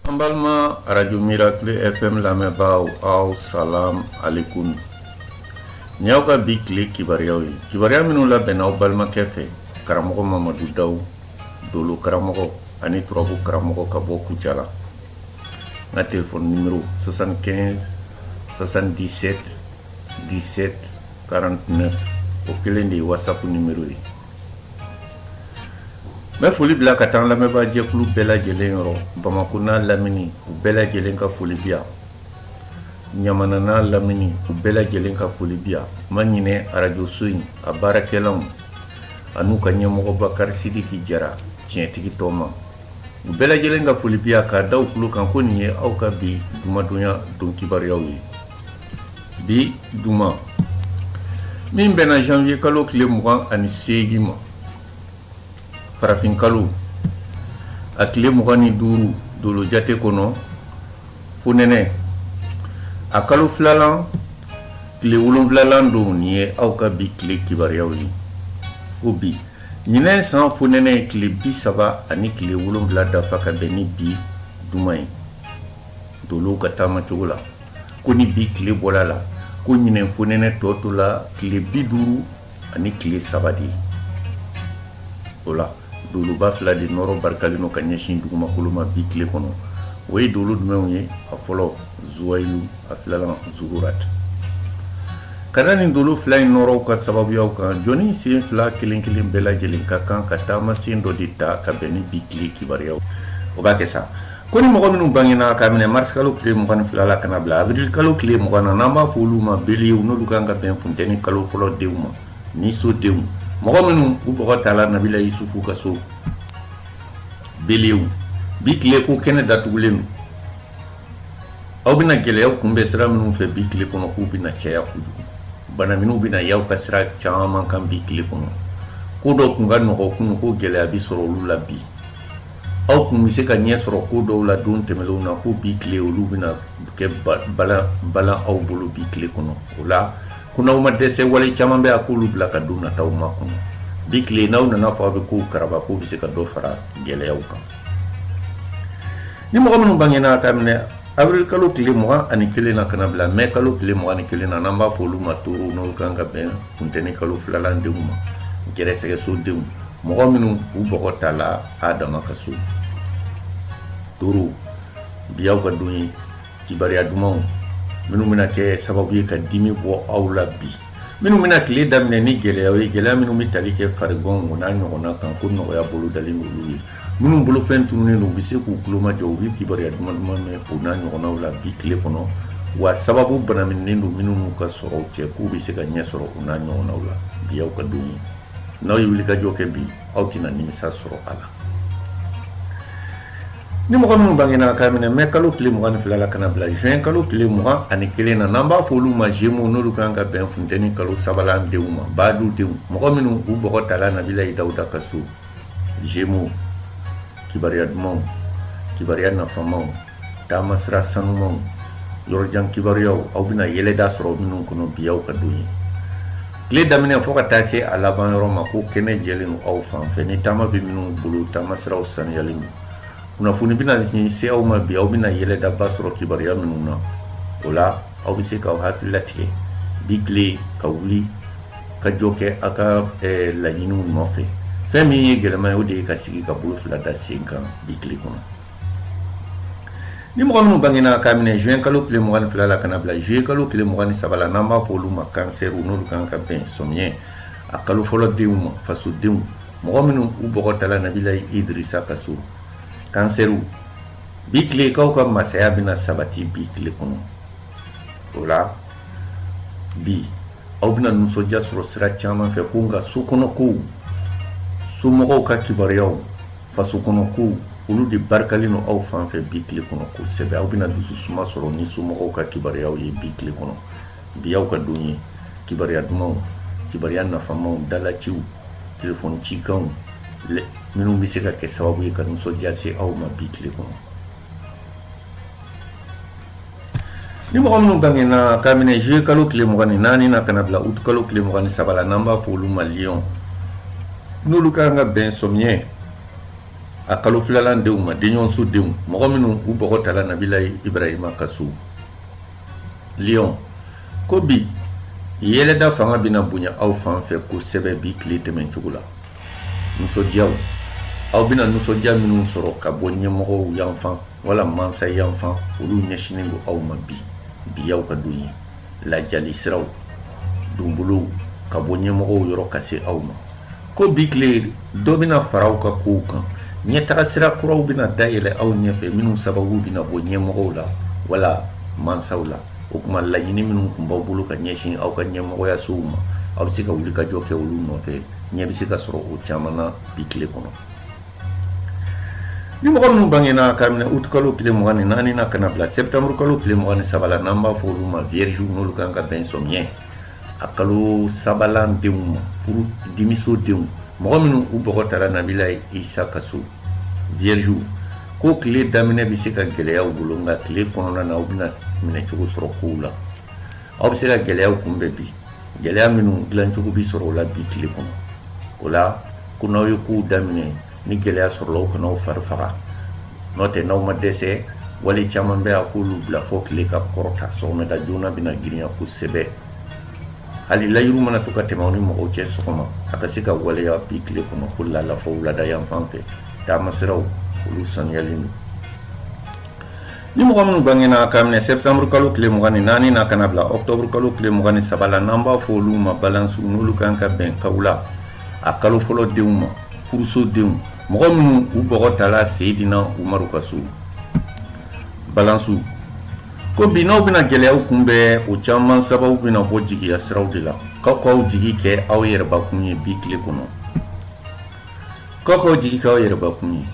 An balima arajo mirakle fm lamɛnbaaw aw salam alekun nin y'aw ka bi tile kibaruyaw ye kibaruya minnu labɛnna aw balimakɛ fɛ karamɔgɔ mamadu daw dolo karamɔgɔ ani turabu karamɔgɔ ka bɔ kucala n ka telefɔni nimero 75 77 17 49 o kelen de ye whatsapp nimero ye n bɛ foli bila ka taa an lamɛnbaa jɛkulu bɛɛ lajɛlen yɔrɔ bamakɔ n'a lamini u bɛɛ lajɛlen ka foli bi yan ɲamana n'a lamini u bɛɛ lajɛlen ka foli bi yan ma ɲinɛ arajoso in a baarakɛlanw an'u ka ɲɛmɔgɔ bakari sidiki jara tiɲɛtigi tɔma u bɛɛ lajɛlen ka foli bi yan k'a da u tulo kan ko nin ye aw ka bi duma donya don kibaruyaw ye bi duma min bɛnna janvier kalo tile mugan ani seegi ma farafinkalo a tile mugan ni duuru dolo jate kɔnɔ fonɛnɛ a kalo filalan tile wolonfilalan don nin ye aw ka bi tile kibaruyaw ye ko bi ɲinɛ san fonɛnɛ ye tile bi saba ani tile wolonfila dafa ka bɛn ni bi duma ye Dolow ka taamacogo la ko ni bi tile bɔra a la ko ɲinɛ fonɛnɛ tɔ tola tile bi duuru ani tile saba de ye o la doloba fila de nɔrɔ barikalen don ka ɲɛsin dugumakolo ma bi tile kɔnɔ o ye dolo jumɛnw ye a fɔlɔ zwayilu a filala zugura ten k'a da nin dolo fila in nɔrɔw ka sababuya kan jɔnnin senfila kelenkelen bɛɛ lajɛlen ka kan ka taamasen dɔ de ta ka bɛn ni bi tile kibaruya o b'a kɛ sa Ko ni mɔgɔ minnu bangena ka minɛ marisi kalo tile 22 la ka bila avril kalo tile 20 na n'an b'a fɔ olu ma belew n'olu kan ka bɛn funteni kalo fɔlɔ denw ma niso denw mɔgɔ minnu u bɔgɔ tala nabila yisufu ka so belew bi tile ko kɛnɛ datugulen don aw bɛna gɛlɛyaw kunbɛn sira minnu fɛ bi tile kɔnɔ k'u bɛna caya kojugu banaminiw bɛna y'aw ka sira caman kan bi tile kɔnɔ ko dɔw tun ka nɔgɔ kunun ko gɛlɛya bi sɔrɔ olu la bi aw tun bɛ se ka ɲɛ sɔrɔ ko dɔw la don tɛmɛnlenw na ko bi tile olu bɛna kɛ balan aw bolo bi tile kɔnɔ o la ko n'aw ma dɛsɛ wale caman bɛ a k'olu bila ka don nataw makɔnɔ bi tile n'aw nana fɔ aw bɛ kow karaba k'o bɛ se ka dɔ fara gɛlɛyaw kan ni mɔgɔ minnu bangena ka minɛ avril kalo tile mugan ani kelen na ka na bila mɛ kalo tile mugan ni kelen na n'an b'a fɔ olu ma toro n'o kan ka bɛn funteni kalo filalan denw ma gɛrɛsɛgɛso denw mɔgɔ minnu u bɔgɔ tala adama ka so toro bi aw ka don ye kibaruya dumanw minnu bɛna kɛ sababu ye ka dimi bɔ aw la bi minnu bɛna tile daminɛ ni gɛlɛya ye gɛlɛya minnu bɛ tali kɛ farigan o n'a ɲɔgɔnna kan ko nɔgɔya bolo dalen olu ye minnu bolofɛn tununnen don u bɛ se k'u tulomajɔ u bɛ kibaruya duman duman mɛn o n'a ɲɔgɔnnaw la bi tile kɔnɔ wa sababu banaminen don minnu n'u ka sɔrɔw cɛ k'u bɛ se ka ɲɛ sɔrɔ o n'a ɲɔgɔnnaw la bi aw ka don ye n'aw ye wulikajɔ kɛ bi aw tɛna nimisa sɔrɔ a la ni mɔgɔ minnu bangena k'a minɛ mɛ kalo tile mugan ni fila la kana bila juin kalo tile mugan ani kelen na n'an b'a fɔ olu ma jemu n'olu kan ka bɛn funteni kalo sabalan denw ma baadu denw mɔgɔ minnu u bɔgɔ tala nabilayi dawuda ka so jemu kibaruya dumanw kibaruya nafamaw taama sira sanumaw yɔrɔjan kibaruyaw aw bɛna yɛlɛda sɔrɔ minnu kɔnɔ bi aw ka don ye tile daminɛ fɔɔ ka taa se a laban yɔrɔ ma ko kɛnɛ jɛlen aw fan fɛ ni taama bɛ minnu bolo taama siraw saniyalen don kunnafoni bɛna ɲin se aw ma bi aw bɛna yɛlɛdaba sɔrɔ kibaruya minnu na o la aw bɛ se k'aw hakili latigɛ bi tile ka wulikajɔ kɛ aw ka eh, laɲiniw nɔfɛ fɛn min ye gɛlɛman ye o de ye ka sigi ka bolo fila da sen kan bi tile kɔnɔ ni mɔgɔ minnu bangena k'a minɛ juin kalo tile mugan ni fila la kana bila juillet kalo tile mugan ni saba la n'an b'a fɔ olu ma kansɛriw n'olu kan ka bɛn sɔmiɲɛ a kalo fɔlɔ denw ma fasodenw mɔgɔ minnu u bɔgɔ tala nabilayi idirisa ka so kansɛriw bi tile k'aw ka masaya bɛna sabati bi tile kɔnɔ o la bi aw bɛna nisɔndiya sɔrɔ sira caman fɛ ko nka so kɔnɔ kow somɔgɔw ka kibaruyaw faso kɔnɔ kow olu de barikalen don aw fan fɛ bi tile kɔnɔ kosɛbɛ aw bɛna dusu suma sɔrɔ ni somɔgɔw ka kibaruyaw ye bi tile kɔnɔ bi aw ka don ye kibaruya dumanw kibaruya nafamaw dalaciw telefɔni cikanw minnu bɛ se ka kɛ sababu ye ka nisɔndiya se aw ma bi tile kɔnɔ ni mɔgɔ minnu bangena k'a minɛ juye kalo tile mugan ni naani na kana bila utu kalo tile mugan ni saba la n'an b'a fɔ olu ma liyɔn n'olu ka kan ka bɛn sɔmiyɛ a kalo filalan denw ma denɲɔgɔnso denw mɔgɔ minnu u bɔgɔ tala nabilayi ibrahima ka so liyɔn ko bi yɛlɛda fanga bɛna bonya aw fan fɛ kosɛbɛ bi tile tɛmɛn cogo la Nisɔndiyaw aw bɛna nisɔndiya minnu sɔrɔ ka bɔ ɲɛmɔgɔw yanfan wala masa yanfan olu ɲɛsinnen don aw ma bi bi aw ka don ye ladiyali siraw donbolo ka bɔ ɲɛmɔgɔ yɔrɔ ka se aw ma ko bi tile dɔ bɛna fara aw ka kow kan ɲɛtaga sira kuraw bɛna dayɛlɛ aw ɲɛfɛ minnu sababu bɛna bɔ ɲɛmɔgɔ la wala masaw la o tuma laɲini minnu tun b'aw bolo ka ɲɛsin aw ka ɲɛmɔgɔyasow ma aw bɛ se ka wulikajɔ kɛ olu nɔfɛ ɲɛ bɛ se ka sɔrɔ o caman na bi tile kɔnɔ ni mɔgɔ minnu bangena ka minɛ août kalo tile mugan ni naani na ka na bila septembre kalo tile mugan ni saba la n'an b'a fɔ olu ma vierge n'olu kan ka bɛn sɔmiɲɛ a kalo sabalan denw ma furu dimiso denw mɔgɔ minnu u bɔgɔ tara nabila isa ka so vierge ko tile daminɛ bɛ se ka gɛlɛya u bolo nka tile kɔnɔna na u bɛna minɛcogo sɔrɔ kow la aw bɛ se ka gɛlɛyaw kunbɛ bi gɛlɛya minnu dilancogo bɛ sɔrɔ o la bi tile kɔnɔ o la ko n'aw ye kow daminɛ ni gɛlɛya sɔrɔla aw kana aw fari faga n'o tɛ n'aw ma dɛsɛ wale caman bɛ a k'olu bila fɔ tile ka kɔrɔta sɔgɔmada joona bɛna girinya kosɛbɛ hali layidu mana to ka tɛmɛ aw ni mɔgɔw cɛ sɔgɔma a ka se ka waleya bi tile kɔnɔ ko laala fɔ wulada yanfan fɛ taamasiraw olu sanuyalen don Ni mɔgɔ minnu bangena ka minɛ septembre kalo tile mugan ni naani na ka na bila octobre kalo tile mugan ni saba la n'an b'a fɔ olu ma balansiw n'olu kan ka bɛn kawula a kalo fɔlɔ denw ma furuso denw mɔgɔ minnu u bɔgɔ tala seydina umaru ka so balansiw ko bi n'aw bɛna gɛlɛyaw kunbɛn o caman sababu bɛna bɔ jigiya siraw de la k'aw k'aw jigi kɛ aw yɛrɛbakun ye bi tile kɔnɔ k'aw k'aw jigi k'aw yɛrɛbakun ye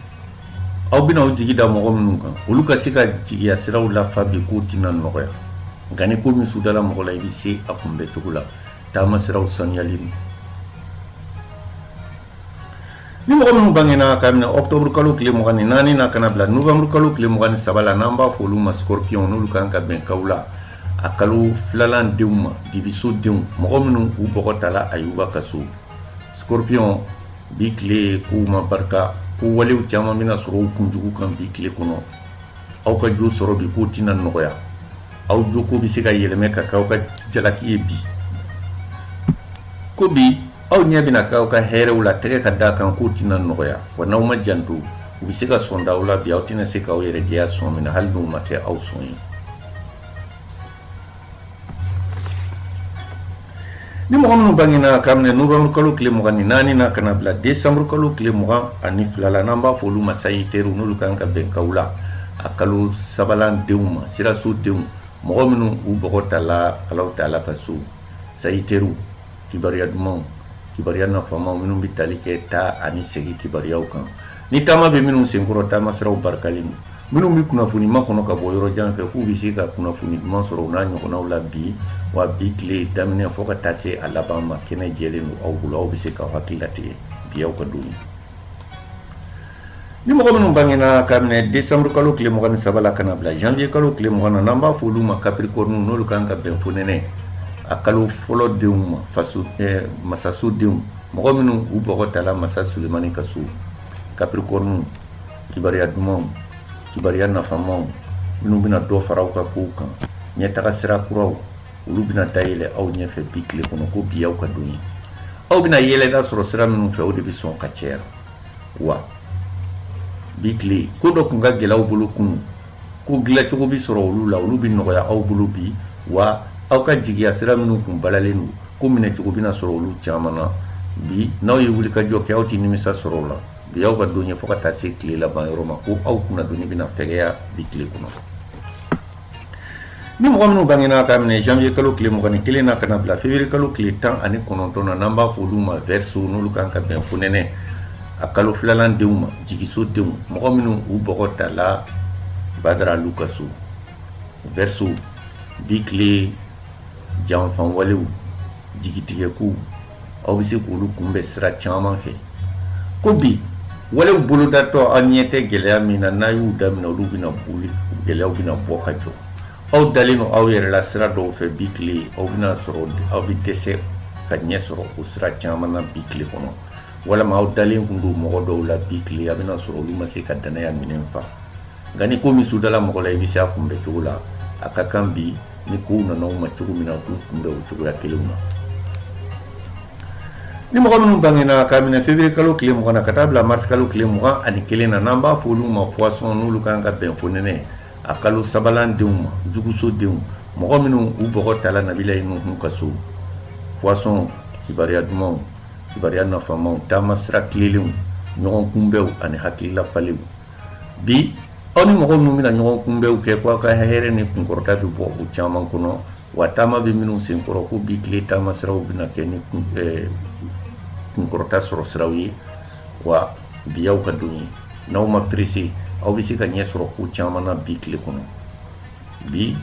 aw bɛna aw jigi da mɔgɔ minnu kan olu ka se ka jigiya siraw lafa bi k'o tɛna nɔgɔya nka ni ko min sudala mɔgɔ la i bɛ se a kunbɛ cogo la taamasiraw sanuyalen don ni mɔgɔ minnu bangena ka minɛ octobre kalo tile mugan ni naani na ka na bila novembre kalo tile mugan ni saba la n'an b'a fɔ olu ma scorpion n'olu kan ka bɛn kawula a kalo filalan denw ma dibiso denw mɔgɔ minnu u bɔgɔ tala ayuba ka so Scorpion bi tile ko ma barika ko walew caman bɛna sɔrɔ u kunjugu kan bi tile kɔnɔ aw ka jo sɔrɔ bi k'o tɛna nɔgɔya aw jo ko bɛ se ka yɛlɛmɛ ka kɛ aw ka jalaki ye bi ko bi aw ɲɛ bɛna kɛ aw ka hɛrɛw la tɛgɛ ka d'a kan k'o tɛna nɔgɔya wa n'aw ma janto u bɛ se ka sɔn da aw la bi aw tɛna se k'aw yɛrɛ jɛya sɔn min na hali n'u ma kɛ aw sɔn ye ni mɔgɔ minnu bangena ka minɛ novembre kalo tile mugan ni naani na ka na bila décembre kalo tile mugan ani fila la n'an b'a fɔ olu ma sagittairew n'olu kan ka bɛn kawula a kalo sabalan denw ma siraso denw mɔgɔ minnu u bɔgɔ tala alahu taala ka so sagittairew kibaruya dumanw kibaruya nafamaw minnu bɛ tali kɛ taa ani segi kibaruyaw kan ni taama bɛ minnu senkɔrɔ taamasiraw barikalen don Minnu bɛ kunnafoni makɔnɔ ka bɔ yɔrɔ jan fɛ k'u bɛ se ka kunnafoni duman sɔrɔ u n'a ɲɔgɔnnaw la bi wa bi tile daminɛ fɔ ka taa se a laban ma kɛnɛ jɛlen don aw bolo aw bɛ se ka hakili latigɛ bi y'aw ka don ye ni mɔgɔ minnu bangena ka minɛ desanburu kalo tile mugan ni saba ka na bila janviye kalo tile mugan na n'an b'a fɔ olu ma capricorne n'olu kan ka bɛn fonɛnɛ a kalo fɔlɔ denw ma eh, masasodenw mɔgɔ minnu u bɔgɔ tala masa solimani ka so capricorne kibaruya dumanw kibaruya nafamaw minnu bɛna dɔ fara aw ka kow kan ɲɛtaga sira kuraw olu bɛna dayɛlɛ aw ɲɛfɛ bi tile kɔnɔ ko bi y'aw ka don ye aw bɛna yɛlɛma sɔrɔ sira minnu fɛ o de bɛ sɔn ka caya wa bi tile ko dɔw tun ka gɛlɛn aw bolo kunu ko dilancogo bɛ sɔrɔ olu la olu bɛ nɔgɔya aw bolo bi wa aw ka jigiya sira minnu kun balalen don ko minɛcogo bɛna sɔrɔ olu caman na bi n'aw ye wulikajɔ kɛ aw tɛ nimisa sɔrɔ o la Bi y'aw ka don ye fo ka taa se tile laban yɔrɔ ma ko aw kunna doni bɛna fɛya bi tile kɔnɔ ni mɔgɔ minnu bangena ka minɛ janviye kalo tile mugan ani kelen na ka na bila février kalo tile tan ani kɔnɔntɔn na n'an b'a fɔ olu ma verseau n'olu kan ka bɛn fonɛnɛ a kalo filanan denw ma jigiso denw mɔgɔ minnu u bɔgɔ tala badara alu ka so verseau bi tile janfawalew jigitigɛkow aw bɛ se k'olu kunbɛ sira caman fɛ ko bi walew bolodatɔ aw ɲɛ tɛ gɛlɛya min na n'a y'u daminɛ olu bɛna boli gɛlɛyaw bɛna bɔ ka jɔ aw dalen don aw yɛrɛ la sira dɔw fɛ bi tile a bɛna sɔrɔ aw bɛ dɛsɛ ka ɲɛ sɔrɔ o sira caman na bi tile kɔnɔ walima aw dalen tun don mɔgɔ dɔw la bi tile a bɛna sɔrɔ olu ma se ka dannaya minɛn fa nka ni ko min sudala mɔgɔ la i bɛ se a kunbɛ cogo la a ka kan bi ni kow nana u ma cogo min na u k'u kunbɛ o cogoya kelenw na ni mɔgɔ minnu bangena ka minɛ février kalo tile mugan na ka taa bila mars kalo tile mugan ani kelen na n'an b'a fɔ olu ma poisson n'olu kan ka bɛn fonɛnɛ a kalo sabanan denw ma juguso denw mɔgɔ minnu u bɔgɔ tala nabilayi nuhun ka so poisson kibaruya dumanw kibaruya nafamaw taama sira tilennenw ɲɔgɔn kunbɛw ani hakilila falenw bi aw ni mɔgɔ minnu bɛna ɲɔgɔn kunbɛnw kɛ ko aw ka hɛrɛ ni kunkɔrɔta bɛ bɔ u caman kɔnɔ wa taama bɛ minnu sen kɔrɔ ko bi tile taama siraw bɛna kɛ ni eh, kunkɔrɔta sɔrɔ siraw ye wa bi y'aw ka don ye n'aw ma perese aw bɛ se ka ɲɛ sɔrɔ ko caman na bi tile kɔnɔ bi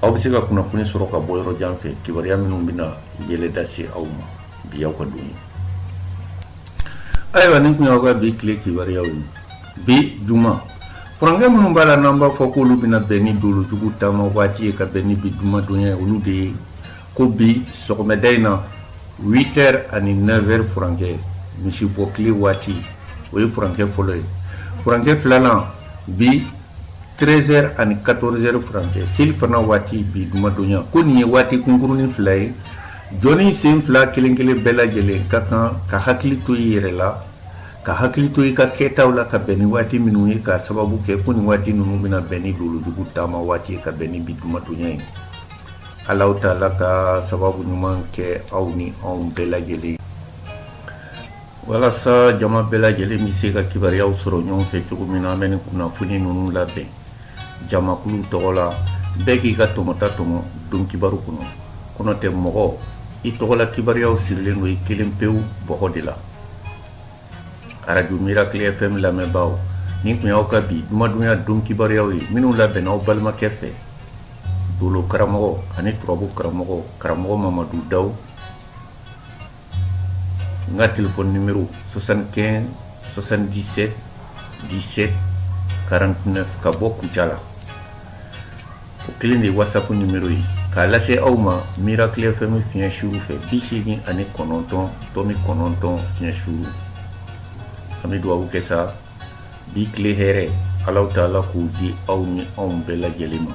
aw bɛ se ka kunnafoni sɔrɔ ka bɔ yɔrɔ jan fɛ kibaruya minnu bɛna yɛlɛ lase aw ma bi y'aw ka don ayiwa nin tun y'aw ka bi tile kibaruyaw ye bi juma furankɛ minnu b'a la n'an b'a fɔ k'olu bɛna bɛn ni dolojugu taama waati ye ka bɛn ni bi jumadonya ye olu de ye ko bi sɔgɔmada in na 8 heures ani 9 heures furankɛ misi bɔ tile waati o ye furankɛ fɔlɔ ye furankɛ filanan bi 13 heures ani 14 heures furankɛ selifana waati bi jumadonya ko nin ye waati kunkurunnin fila ye jɔnnin sen fila kelen kelen bɛɛ lajɛlen ka kan ka hakili to i yɛrɛ la ka hakili to i ka kɛtaw la ka bɛn ni waati minnu ye k'a sababu kɛ ko nin waati ninnu bɛna bɛn ni dolojugu taama waati ye ka bɛn ni bi jumadonya ye ala taala ka sababu ɲuman kɛ aw ni anw bɛɛ lajɛlen walasa jama bɛɛ lajɛlen bɛ se ka kibaruyaw sɔrɔ ɲɔgɔn fɛ cogo min na an bɛ nin kunnafoni ninnu labɛn jamakulu tɔgɔ la bɛɛ k'i ka tɔmɔta tɔmɔ don kibaru kɔnɔ ko n'o tɛ mɔgɔ i tɔgɔla kibaruyaw sirilen don i kelen pewu bɔgɔ de la arajo miracle fm lamɛnbaaw nin tun y'aw ka bi jumadonya don kibaruyaw ye minnu labɛnna aw balimakɛ fɛ dolo karamɔgɔ ani turabu karamɔgɔ karamɔgɔ mamadu daw n ka telefɔni nimero 75 77 17 49 ka bɔ kucala o kelen de ye whatsapp nimero ye k'a lase aw ma miracle fm fiɲɛ sira fɛ bi seegin ani kɔnɔntɔn tɔmi kɔnɔntɔn fiɲɛ sira an bɛ dugawu kɛ sa bi tile hɛrɛ ala taala k'o di aw ni anw bɛɛ lajɛlen ma